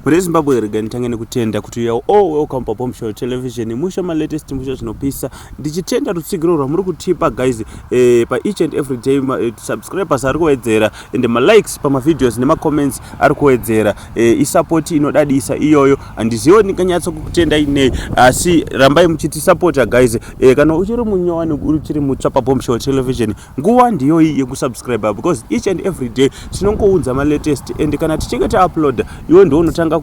Mune Zimbabwe rega nditange nekutenda kuti uya all welcome pa Bomb Show Television musha ma latest musha zvinopisa ndichitenda rutsigiro rwamuri kutipa guys eh, pa each and every day ma, eh, subscribers ari kuwedzera and ma likes pa ma videos nema comments ari kuwedzera eh, i support inodadisa iyoyo handiziwo ndinganyatso kukutenda inei asi rambai muchiti supporta guys eh, kana uchiri munyowani uchiri mutsva pa Bomb Show Television nguva ndiyoyi yekusubscriber because each and every day tinongounza malatest and kana tichinge tauploada iwe ndiwo unotanga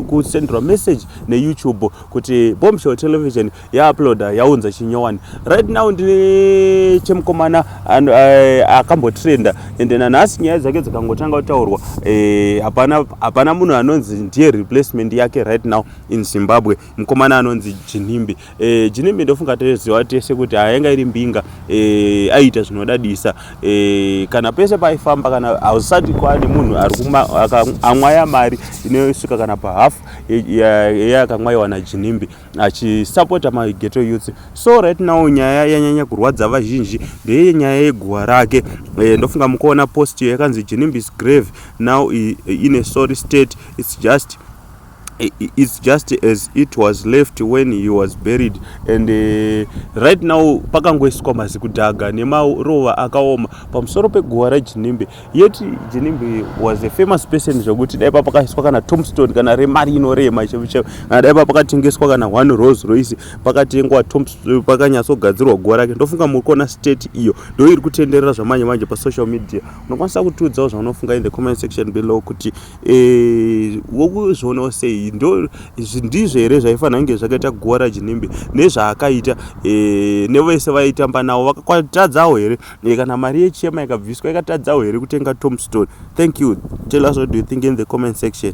kusenderwa message neyoutube kuti bombshell television yauploada yaunza chinyowani right now ndine chemukomana eh, akambotrenda and nanhasi nyaya dzake dzikangotanga kutaurwa eh, hapana munhu anonzi ndiye replacement yake right now in zimbabwe mukomana anonzi chinhimbi e, jinimi ndofunga toziva tese kuti ayanga iri mbinga e, aiita zvinodadisa e, kana pese paifamba kana hausati kwane munhu ariamwaya mari inosvika kana pahalf yeakamwaiwa e, e, najinimbi achisapota mageto youth so right now nyaya yanyanya kurwadza vazhinji ndeye nyaya yeguva rake e, ndofunga mukuona post yakanzi jinimbis grave now ine sorry state its just it's just as it was left when he was buried and uh, right now pakangoiswa mazikudhaga nemarova akaoma pamusoro peguva rajinimbe yet jinimbe was a famous person zvekuti dai papakaiswa kana tomstone kana remari inorema chevichevo kana dai papakatengeswa kana one rose roise pakatengwa pakanyatsogadzirwa guva rake ndofunga muri kuona state iyo ndo iri kutenderera zvamanje manje pasocial media unokwanisa kutiudzawo zvaunofunga in the comment section below kuti Eh, wokuzvionawo sei ndo ndizvo here zvaifanira kunge zvakaita guva rajinimbe nezvaakaita eh, nevese vaitamba navo vakatadzawo here eh, kana mari yechema ikabviswa ikatadzawo here kutenga tomstone thank you tell us what do you think in the comment section